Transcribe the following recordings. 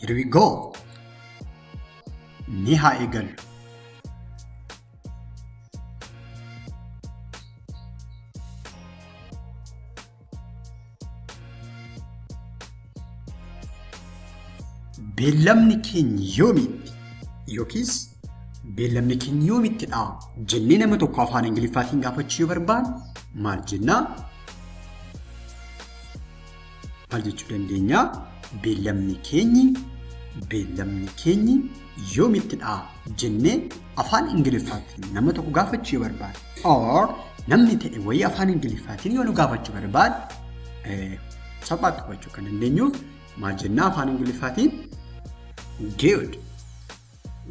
Here we go. Ni haa eegallu. Beellamni keenya yoomitti yookiis beellamni keenya yoomitti dha jennee nama tokko afaan Ingiliffaatiin gaafachuu yoo barbaanne maal jennaa? Maal jechuu dandeenya? Beellamni keenyi beellamni keenyi yoomittidha jennee afaan Ingiliffaatiin nama tokko gaafachuu yoo barbaade or namni ta'e wayii afaan Ingiliffaatiin yoo nu gaafachuu barbaade eh, salphaatti hubachuu kan dandeenyuuf maal jennaa afaan Ingiliffaatiin good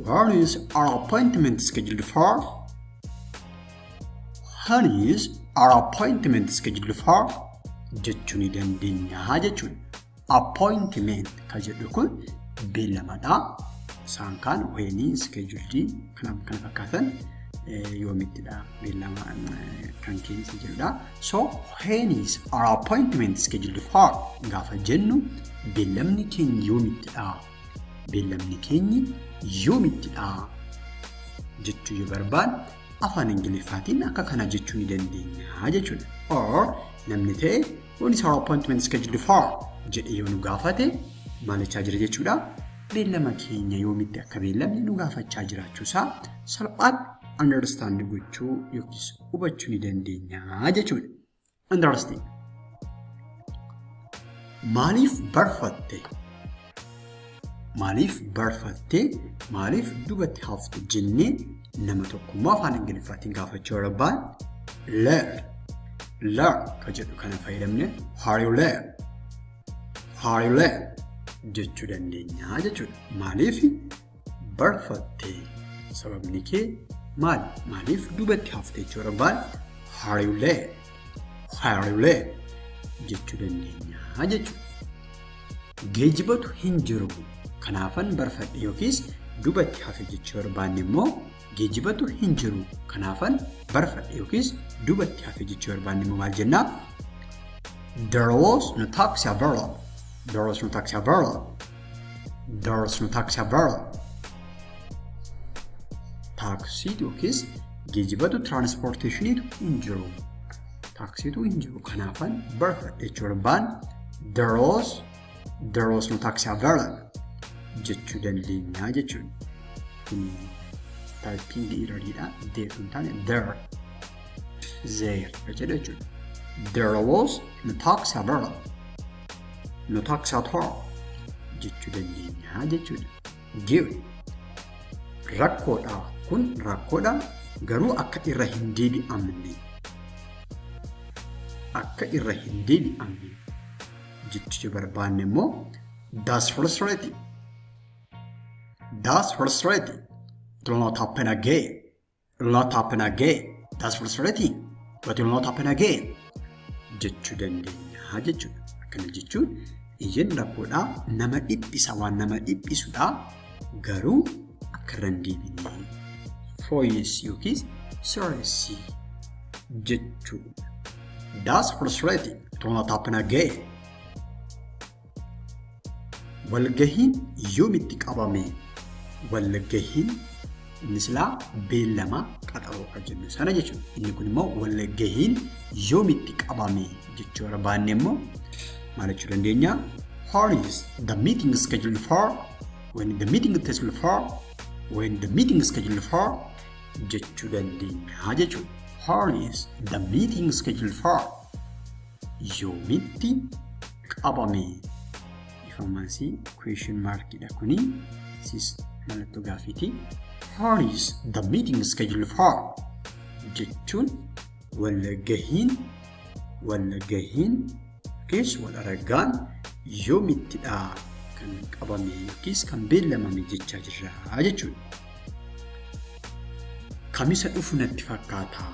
Where is our appointment scheduled for? Where is our appointment scheduled for? jechuu ni dandeenya jechuudha. Appointment kan jedhu kun beellamadha. Isaan kaan weenii, iskeejuldii kana kana fakkaatan yoomittidha beellama kan keessa jirudha. So when is our appointment scheduled for? Gaafa jennu beellamni keenya yoomittidha Beellamni keenyi yoomittidha jechuu yoo barbaanne afaan Ingiliffaatiin akka kana jechuu ni dandeenya jechuudha. Or namni ta'e when is our appointment scheduled for jedhee yoo nu gaafate maal jechaa jira jechuudha. Beellama keenya yoomitti akka beellamne nu gaafachaa jiraachuusaa salphaatti understand gochuu yookiis hubachuu ni dandeenya jechuudha. Understand. Maaliif barfatte? Maaliif barfatte? Maaliif dubatti hafte jennee nama tokkummaa afaan Ingiliffaatiin gaafachuu barbaad? Learn. Learn kan jedhu kana fayyadamne are you learn? Are you learn? jechuu dandeenya jechuudha. Maaliif barfatte sababni kee maal maaliif duubatti hafte jechuu barbaad hariulee hariulee jechuu dandeenya jechuudha. Geejibatu hin jiru kanaafan barfadhe yookiis duubatti hafe jechuu barbaanne immoo geejibatu hin jiru kanaafan barfadhe yookiis duubatti hafe jechuu barbaanne immoo maal jennaa? There was no taxi available. There was no taxi available. There is no taxi available. Taaksiitu yookiis geejibatu tiraanispoorteeshiniitu hin jiru. Taaksiitu hin jiru. Kanaafan barfadhe jechuu barbaan there is there is no taxi available jechuu dandeenya jechuudha. Kun taayipiingi irradidha. There hin taane there. There jedha jechuudha. There was no taxi available. No tax at all jechuu dandeenya jechuudha. Give rakkoodha kun rakkoodha garuu akka irra hin deebi'amne akka irra hin deebi'amne jechuu barbaanne immoo that's frustrating that's frustrating it will not happen again It will not happen again. That's for certain. But it will not happen again. Jechuu dandeenya jechuudha. Akkana jechuun iyyan rakkoodhaa nama dhiphisa waan nama dhiphisudha garuu akka irra hin deebine fooyyessi yookiis sirreessi jechuudha. That's frustrating. It will not happen again. Walgahiin yoomitti qabame? Walgahiin inni silaa beellama qaxaroodha jennu sana jechuudha. Inni kun immoo walgahiin yoomitti qabame jechuu irra baanne immoo maal jechuu dandeenya? How is the meeting scheduled for? When the meeting is scheduled for? When the meeting is scheduled for? jechuu dandeenya jechuudha. How is the meeting scheduled for? yoomitti qabame? Dhifamansi question mark dha kuni. Sis mallattoo gaaffiiti. How is the meeting scheduled for? jechuun walgahiin walgahiin yookiis wal argaan yoomittidha kan qabame yookiis kan beellamame jechaa jirra jechuudha. Kamisa dhufu natti fakkaataa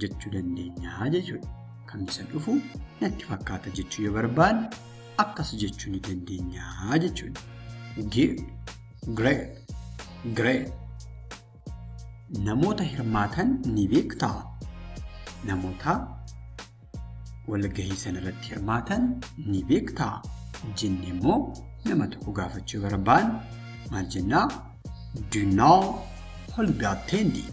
jechuu dandeenya jechuudha. Kan isa dhufu natti fakkaata jechuu yoo barbaanne akkas jechuu ni dandeenya jechuudha. Good, great, great. Namoota hirmaatan ni beektaa? Namoota walgahii sanarratti hirmaatan ni beektaa? Jenne immoo nama tokko gaafachuu barbaanne maal jennaa? Do you know who will be attending?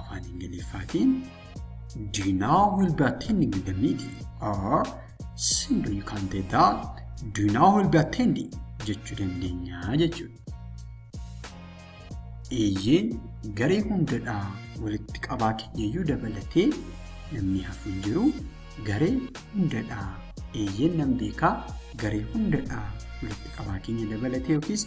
afaan ingiliffaatiin do you know will be attending the meeting or simply you can say that do you know will be attending jechuu dandeenya jechuudha. Eeyyeen garee hundadhaa walitti qabaa keenyayyuu dabalatee namni hafu hin jiru garee hundadhaa eeyyeen nan beekaa garee hundadhaa walitti qabaa keenya dabalatee yookiis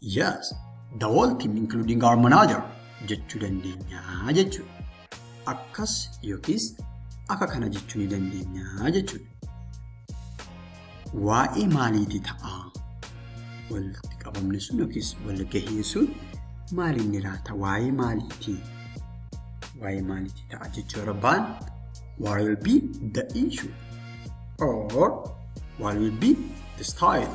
Yes, the whole team including our manager jechuu dandeenya jechuudha. Akkas yookiis akka kana jechuu ni dandeenya jechuudha. Waa'ee maaliiti ta'a? Walitti qabamni sun yookiis walgahiin sun maaliin ni laata? Waa'ee maaliiti? Waa'ee maaliiti ta'a jechuu barbaan? What will be the issue? Or what will be the style?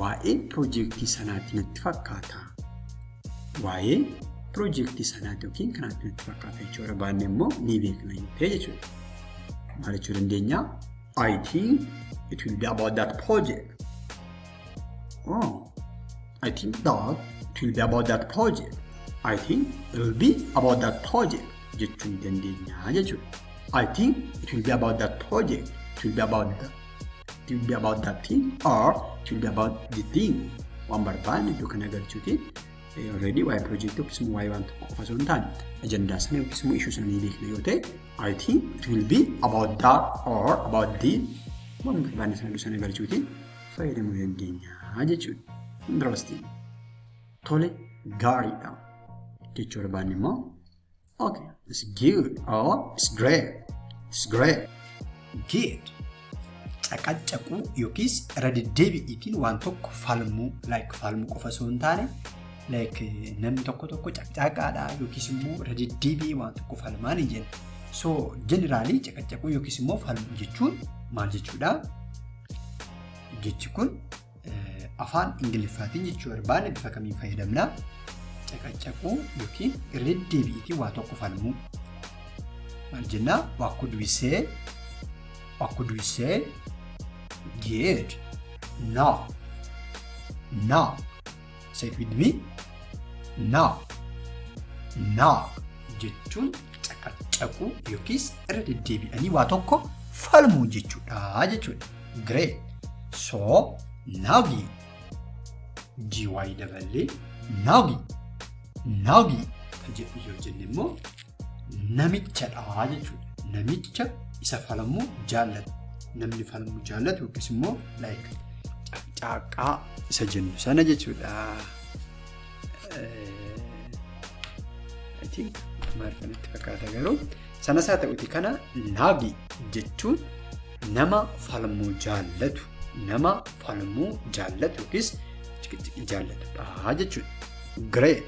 Waa'ee piroojeektii sanaatti natti fakkaata. Waa'ee piroojeektii sanaatti yookiin kanaatti natti fakkaata jechuudha. Baanne immoo ni beekna yoo ta'e jechuudha. Maal jechuu dandeenya? I think it will be about that project. Oh, I think that it will be about that project. I think it will be about that project jechuu ni dandeenya jechuudha. I think it will be about that project. It will be about that it will be about that thing or it will be about the thing waan barbaadne iddoo kana galchuuti already waa'ee project yookiis immoo waa'ee waan tokko qofa osoo hin taane ajandaa sana yookiis immoo ishuu sana ni beekna yoo ta'e I think it will be about that or about the waan barbaadne sana iddoo sana galchuuti fayyadamuu dandeenya jechuudha. Interesting. Tole gaariidha. Jechuu barbaanne immoo Okay. It's good or it's great. It's great. Good. Caqacaquu yookiis irra deddeebi'iitiin waan tokko falmuu like falmuu qofa osoo hin taane like namni tokko tokko caqcaaqaadha yookiis immoo irra deddeebi'ee waan tokko falmaa ni jenna. So jeneraalii caqacaquu yookiis immoo falmuu jechuun maal jechuudha? Jechi kun Afaan Ingiliffaatiin jechuu barbaanne bifa kamiin fayyadamna? Caqacaquu yookiin irra deddeebi'iitiin waa tokko falmuu. Maal jennaa? What could we say? What could we say? Good. Now. Now. Say it with me. Knock. Knock jechuun caqacaquu yookiis irra deddeebi'anii waa tokko falmuu jechuudha jechuudha. Great. So, nagi. GY daballee nagi. Nagi. Kan jedhu yoo jenne immoo namichadha jechuudha. Namicha isa falmu jaallatu. Namni falmu jaallatu yookiis immoo like caaqqaa isa jennu sana jechuudha. I think maal kanatti fakkaata garuu sanas haa ta'uti kana naagi jechuun nama falmuu jaallatu nama falmuu jaallatu yookiis ciqiciqii jaallatudha jechuudha. Great.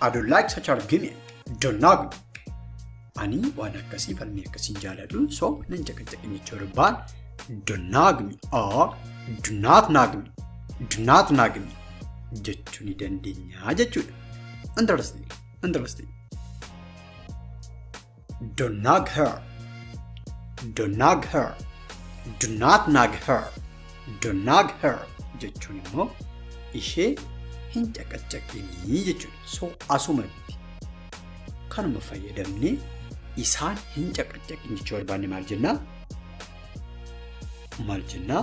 I don't like such argument. Don't knock me. Ani waan akkasii falmii akkasiin jaaladhu so nan caqacaqe jechuu dubbaan don't knock me or do not knock me. Do not knock me jechuu ni dandeenya jechuudha. Interesting. Interesting. Do nag her. Do nag her. Do not nag her. Do nag her jechuun immoo ishee hin caqaccaqinii jechuudha. So asumatti kanuma fayyadamnee isaan hin caqaccaqin jechuu barbaanne maal jennaa? Maal jennaa?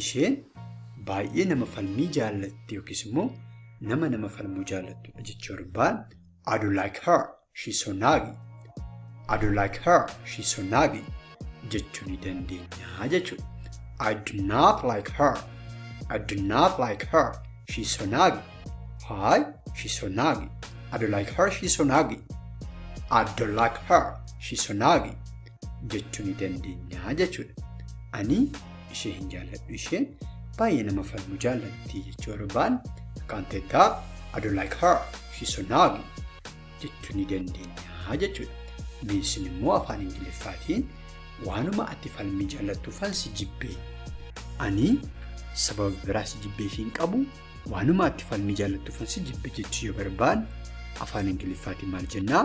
isheen baay'ee nama falmii jaallatti yookiis immoo nama nama falmuu jaallattudha jechuu barbaan I don't like her she's so naggy I don't like her she's so naggy jechuu ni dandeenya jechuudha. I do not like her I do not like her she's so naggy Hi she's so naggy I don't like her she's so naggy I don't like her she's so naggy jechuu ni dandeenya jechuudha. Ani ishee hin jaalladhu isheen baay'ee nama falmu jaallatti jechuu barbaan kan teettaa I don't like her she's so naggy jechuu ni dandeenya jechuudha. Miinsin immoo afaan ingiliffaatiin waanuma ati falmii jaallattuufan si jibbee. Ani sababa biraa si jibbee fi hin qabu waanuma ati falmii jaallattuufan si jibbe jechuu yoo barbaan afaan ingiliffaatiin maal jennaa?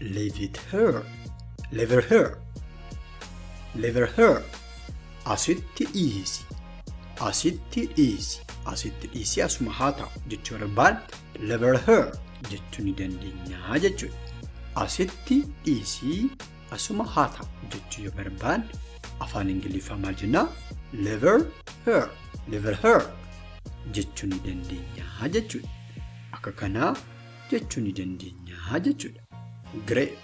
Leave it here. Leave her here. Leave her here. Asitti dhiisi. Asitti dhiisi. Asitti dhiisi asuma haa ta'u jechuu barbaan leave her here jechuu ni dandeenya jechuudha. Asitti dhiisi asuma haa ta'u jechuu yoo barbaan afaan Ingiliffaa maal jennaa? Leave her here. Leave her here. jechuu ni dandeenya jechuudha. Akka kanaa jechuu ni dandeenya jechuudha. Great.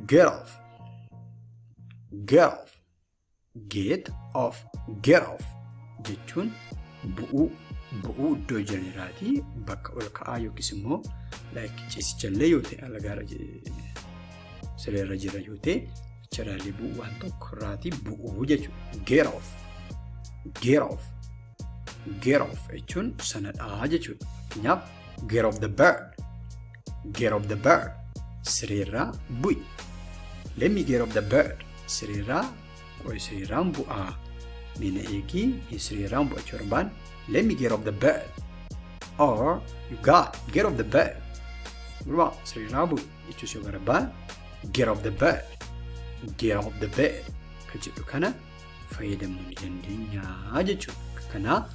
Get off. Get off. Get off. Get off. Jechuun bu'uu bu'uu iddoo jiran irraatii bakka ol ka'aa yookiis immoo like ciisichallee yoo ta'e alagaarra sireerra jira yoo ta'e achirraallee bu'uu waan tokko irraatii bu'uu jechuudha. Get off. Get off. Get off jechuun sanadhaa jechuudha. Fakkeenyaaf get off the bird. Get off the bird. Sireerraa bu'i. Let me get off the bird. Sireerraa qo'i sireerraan bu'aa. Mina eegii hin sireerraan bu'achuu barbaan. Let me get off the bird. Or you got get off the bird. Gurbaa sireerraa bu'i jechuus yoo barbaan get off the bird. Get off the bird. Kan jedhu kana fayyadamuu ni dandeenyaa jechuudha. Kanaa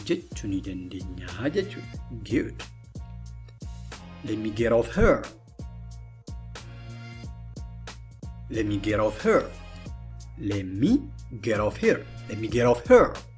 jechuu ni dandeenyaa jechuudha. Good. Let me get off her. Let me get off her. Let me get off here. Let me get off her.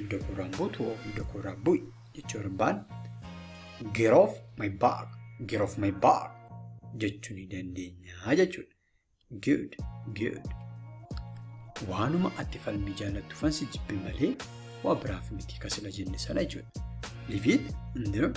Iddoo kooraan buutu hoo iddoo kooraan bu'i jechuu barbaan get off my back get off my back jechuu ni dandeenya jechuudha. Good good. Waanuma ati falmii jaallattu fansi jibbi malee waa biraaf miti kasila jenne sana jechuudha. Leave it and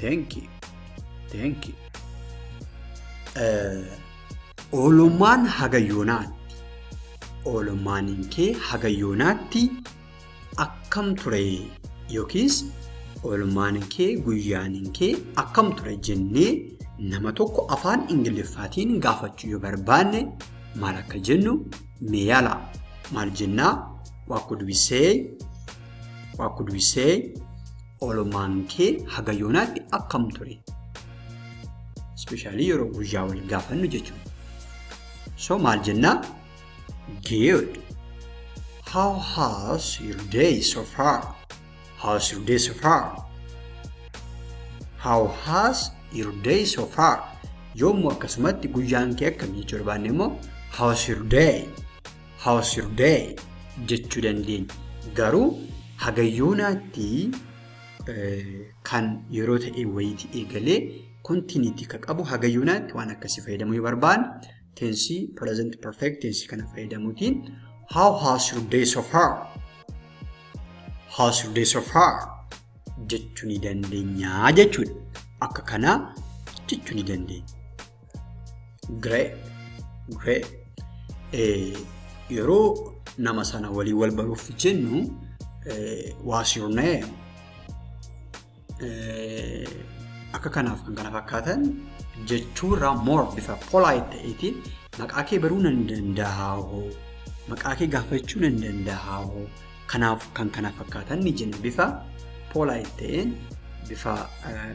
Thank you. Thank you. Oolummaan haga yoonaatti. Oolummaan kee haga yoonaatti akkam ture yookiis oolummaan kee guyyaan kee akkam ture jennee nama tokko afaan ingiliffaatiin gaafachuu yoo barbaanne maal akka jennu mee yaala maal jennaa waa could we say waa could we say Oolmaan kee haga yoonaatti akkam ture? Ispeeshaalii yeroo guyyaa wal gaafannu jechuudha. So maal jennaa? Good. How has your day so far? How's your day so far? How has your day so far? Yoommoo akkasumatti guyyaan kee akkamii jechuu barbaanne immoo how's your day? How's your day? jechuu dandeenya. Garuu hagayyoonaatti kan yeroo ta'e wayiitii eegalee kontiiniitii kan qabu hagayyoonaatti waan akkasii fayyadamuu yoo barbaanne teensii present perfect teensii kana fayyadamuutiin how has your day so far? How's your day so far? jechuu ni dandeenya jechuudha. Akka kanaa jechuu ni dandeenya. Grey. Grey. Eh, yeroo nama sana waliin wal baruuf jennu eh, what's your name? Eh, akka kanaaf kan kana fakkaatan jechuurraa more bifa polite ta'eetiin maqaa kee baruu nan danda'a hoo maqaa kee gaafachuu nan danda'a hoo kanaaf kan kana fakkaatan ni jenna bifa polite ta'een bifa eh,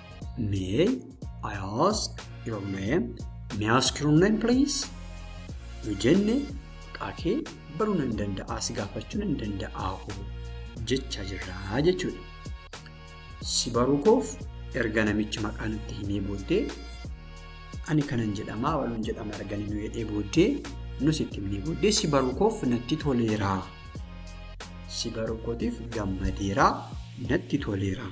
May I ask your name? May I ask your name please? Yoo jenne maqaa kee baruu nan danda'aa si gaafachuu nan danda'aa hoo jechaa jirraa jechuudha. Si baruu koof erga namichi maqaa natti himee booddee ani kanan jedhamaa waluun jedhama arganii nu jedhee booddee nus itti himnee booddee si baruu koof natti toleeraa. Si baruu kootiif gammadeeraa natti toleeraa.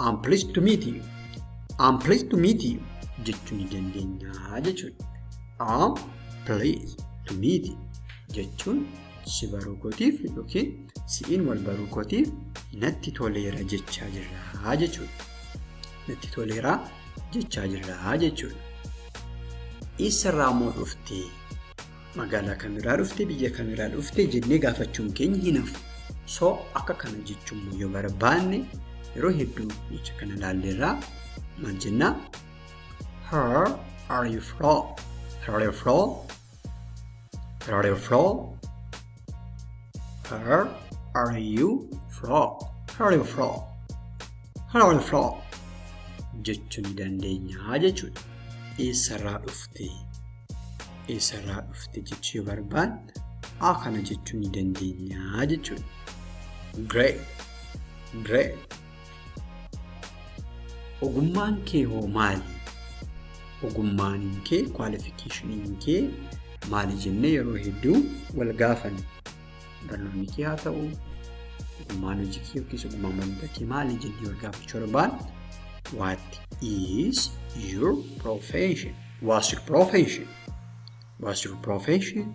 I'm pleased to meet you. I'm pleased to meet you jechuu ni dandeenya jechuudha. I'm pleased to meet you jechuun si baruu kootiif yookiin si'iin wal baruu kootiif natti toleera jechaa jirraa jechuudha. Natti toleera jechaa jirraa jechuudha. Eessarraa immoo dhuftee? Magaalaa kamirraa dhufte, biyya kamirraa dhufte jennee gaafachuun keenya hin hafu. So akka kana jechuun yoo barbaanne yeroo hedduu jecha kana ilaalleerraa maal jennaa? Her are you from? Her are you from? Her are you from? Where are you from? Where are you from? Where are you from? jechuu ni dandeenya jechuudha. Eessarraa dhufte? Eessarraa dhufte jechuu yoo barbaanne a kana jechuu ni dandeenya jechuudha. Great. Great. Ogummaan kee hoo maali? Ogummaan kee kwaalifikeeshiniin kee maali jennee yeroo hedduu wal gaafanna. Barnoonni kee haa ta'u, ogummaan hojii kee yookiis ogummaan barnoota kee maali jennee wal gaafachuu barbaanna. What is your profession? What's your profession? What's your profession?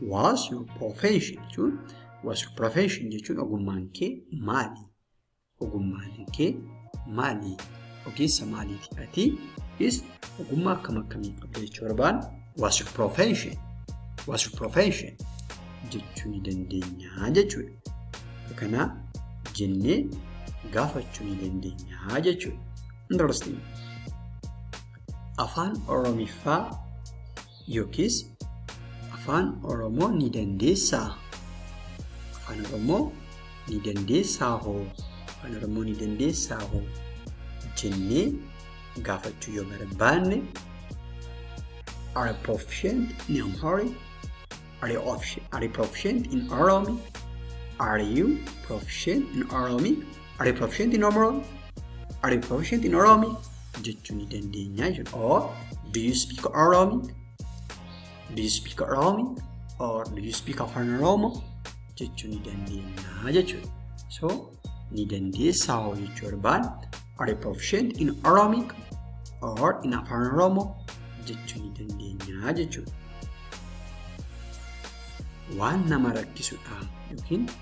What's your profession? jechuun What's your profession jechuun ogummaan kee maali? Ogummaan kee maali? Ogeessa maaliiti ati? Is ogummaa akkam akkamii qabda jechuu barbaan what's your profession? What's your profession? jechuu ni dandeenya jechuudha. Kana jennee gaafachuu ni dandeenya jechuudha. Interesting. Afaan Oromiffaa yookiis afaan oromoo ni dandeessaa afaan oromoo ni dandeessaa hoo afaan oromoo ni dandeessaa hoo jennee gaafachuu yoo barbaanne are you proficient in Amharic? Are you, are you proficient in Oromic? Are you proficient in Oromic? Are you proficient in Oromo? Are you proficient in Oromi? jechuu ni dandeenya jechuudha. Or do you speak Oromi? Do you speak Oromi? Or do you speak Afaan Oromo? jechuu ni dandeenya jechuudha. So ni dandeessaa hoo jechuu barbaan are you proficient in Oromic or in Afaan Oromo jechuu ni dandeenya jechuudha. Waan nama rakkisudha yookiin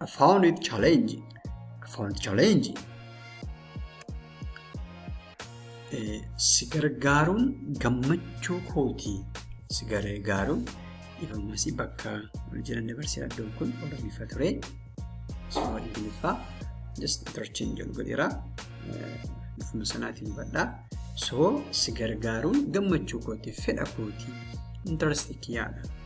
I found it challenging. I found it challenging. Eh, Si gargaaruun gammachuu kooti. Si gargaaruun dhifamas bakka wal jiran dabarsee iddoon kun Oromiffa ture. Osoo Ingiliffaa just interchange jedhu godheera. Eh, Bifuma sanaatiin hubadhaa. So si gargaaruun gammachuu kooti fedha kooti interest kiyyaadha.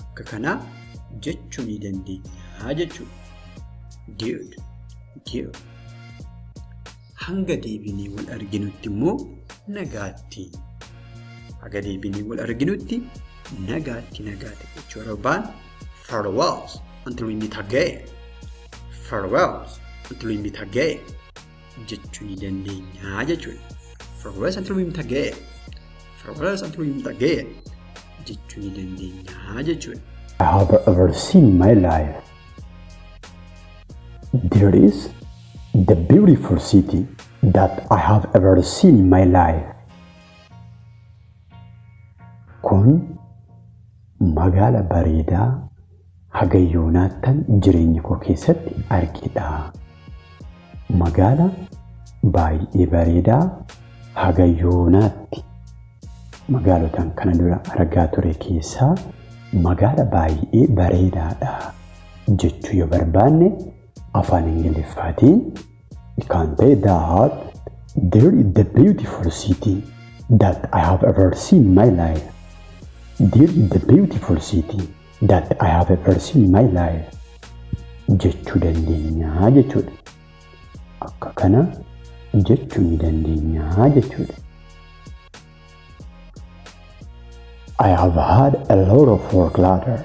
akka kanaa jechuu ni dandeenya jechuudha. Ge'ud, ge'u. Hanga deebinee wal arginutti immoo nagaatti. Haga deebinee wal arginutti nagaatti nagaatti jechuu arbaan farewells until we meet again. Farewells until we meet again. jechuu ni dandeenya jechuudha. Firoosa turuun taga'e. Firoosa turuun taga'e jechuu ni dandeenya jechuudha. I have ever seen in my life. There is the beautiful city that I have ever seen in my life. Kun magaala bareedaa haga yoonaattan jireenya koo keessatti arge dha. Magaala baay'ee bareedaa haga yoonaatti magaalotaan kana dura argaa ture keessaa magaala baay'ee bareedaa dha jechuu yoo barbaanne afaan Ingiliffaatiin we can say that there is the beautiful city that I have ever seen in my life. There is the beautiful city. that I have a person in my life jechuu dandeenyaa jechuudha. Akka kana jechuu ni dandeenyaa jechuudha. I have had a lot of work ladder.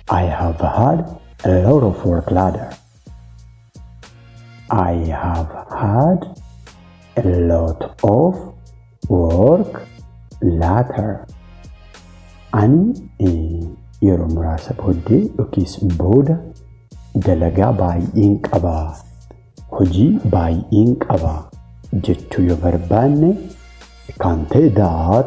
I have had a lot of work ladder. I have had a lot of work later. Ani yeroo muraasa booddee yookiis booda dalagaa baay'een qaba, hojii baay'een qaba jechuu yoo barbaanne kan ta'e that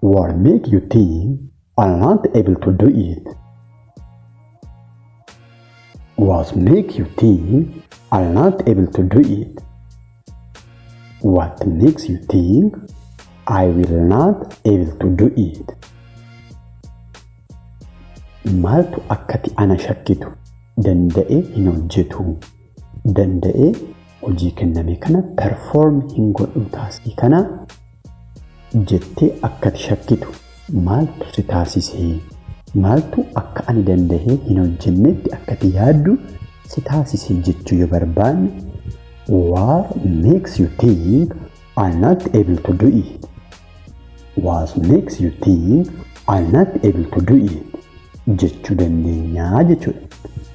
What make you think I'm not able to do it? What make you think I'm not able to do it? What makes you think I will not able to do it? Maaltu akkati ana shakkitu danda'e hin hojjetu danda'ee hojii kenname kana perform hin godhu taaskii kana jettee akkati shakkitu maaltu si taasisee maaltu akka ani danda'ee hin hojjennetti akkati yaaddu si taasisee jechuu yoo barbaanne what makes you think I'm not able to do it what makes you think I'm not able to do it jechuu dandeenyaa jechuudha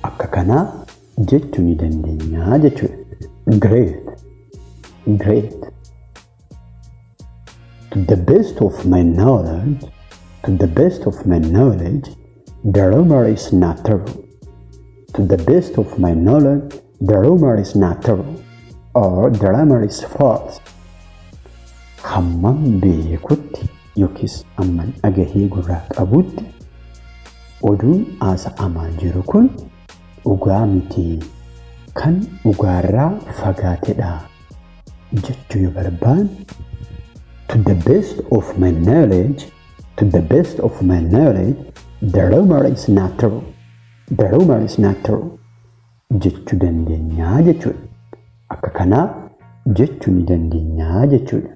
akka kanaa jechu ni dandenyaa jechudha. Great. Great. To the best of my knowledge, to the best of my knowledge, the rumor is not true. To the best of my knowledge, the rumor is not true. Or the rumor is false. Hamman beekutti yookiis hamman dhagahee gurraa qabutti oduun haasa'amaa jiru kun dhugaa miti, kan dhugaarraa fagaatedha jechuu yoo barbaanne, To the best of my knowledge, to the best of my knowledge, the rumor is not true, the rumor is not true jechuu dandeenya jechuudha. Akka kanaa jechuu ni dandeenya jechuudha.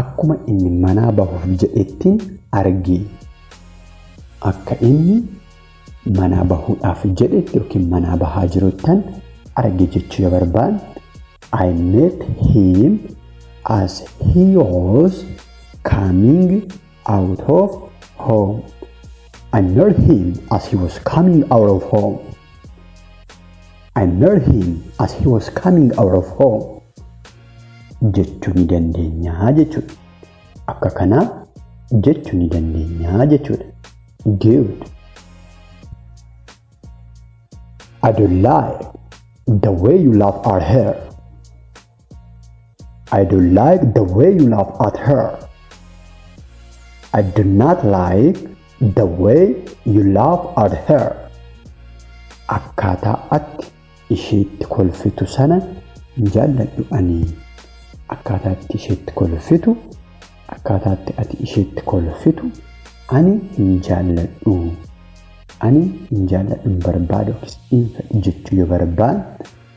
Akkuma inni manaa bahuuf jedhettin arge. Akka inni manaa bahuudhaaf jedhetti yookiin manaa bahaa jiruttan arge jechuu yoo barbaanne I met him as he was coming Out of home. I met him as he was coming out of home. I met him as he was coming out of home. Jechuu ni dandeenyaa jechuudha. Akka kanaa jechuu ni dandeenyaa jechuudha. Good. I don't like the way you laugh at her. I don't like the way you laugh at her. I do not like the way you laugh at her. Akkaataa atti isheetti kolfitu sana hin jaalladhu ani. Akkaataa atti isheetti kolfitu, akkaataa atti ati isheetti kolfitu ani hin jaalladhu. Ani hin jaalladhu hin barbaadu yookiis hin fedhu jechuu yoo barbaanne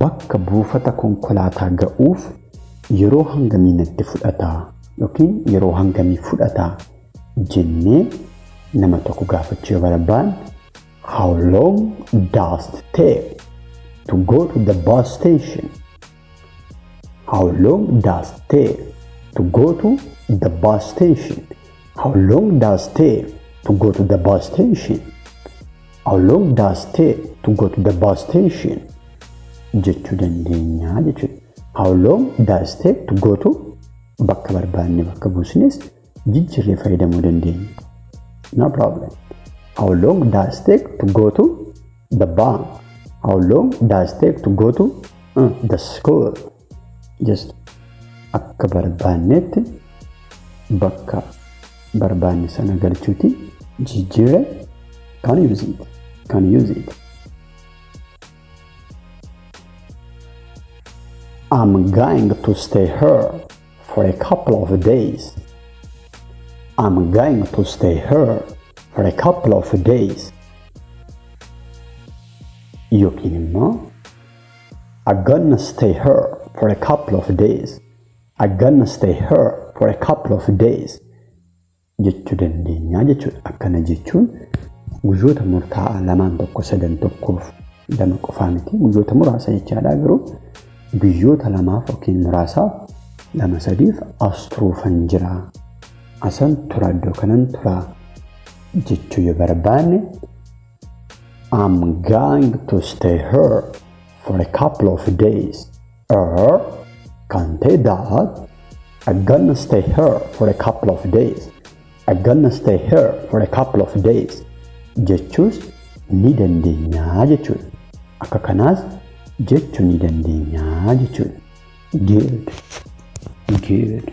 Bakka buufata konkolaataa ga'uuf yeroo hangamii natti fudhata yookiin yeroo hangamii fudhata jennee nama tokko gaafachuu yoo barbaanne How long does it take to go to the bus station? How long does it take to go to the bus station? How long does it take to go to the bus station? How long does it take to go to the bus station? jechuu dandeenya jechuudha. How long does it take to go to bakka barbaanne bakka buusnes jijjiirree fayyadamuu dandeenya. No problem. How long does it take to go to the bank? How long does it take to go to uh, the school? just akka barbaannetti bakka barbaanne sana galchuuti jijjiire kan use it kan use it I'm going to stay here for a couple of days I'm going to stay here for a couple of days yookiin immoo I'm gonna stay here for a couple of days. I'm gonna stay here for a couple of days. jechuu dandeenya jechuudha. Akkana jechuun guyyoota murtaa'aa lamaan tokko sadan tokkoof lama qofaa miti guyyoota muraasa jechaadha garuu guyyoota lamaaf yookiin muraasaaf lama sadiif as turuufan jira. Asan tura iddoo kanan tura jechuu yoo barbaanne I'm going to stay here for a couple of days. Or can say that I'm gonna stay here for a couple of days. I'm gonna stay here for a couple of days. Jechuus ni dandeenya jechuudha. Akka kanaas jechuu ni dandeenya jechuudha. Good. Good.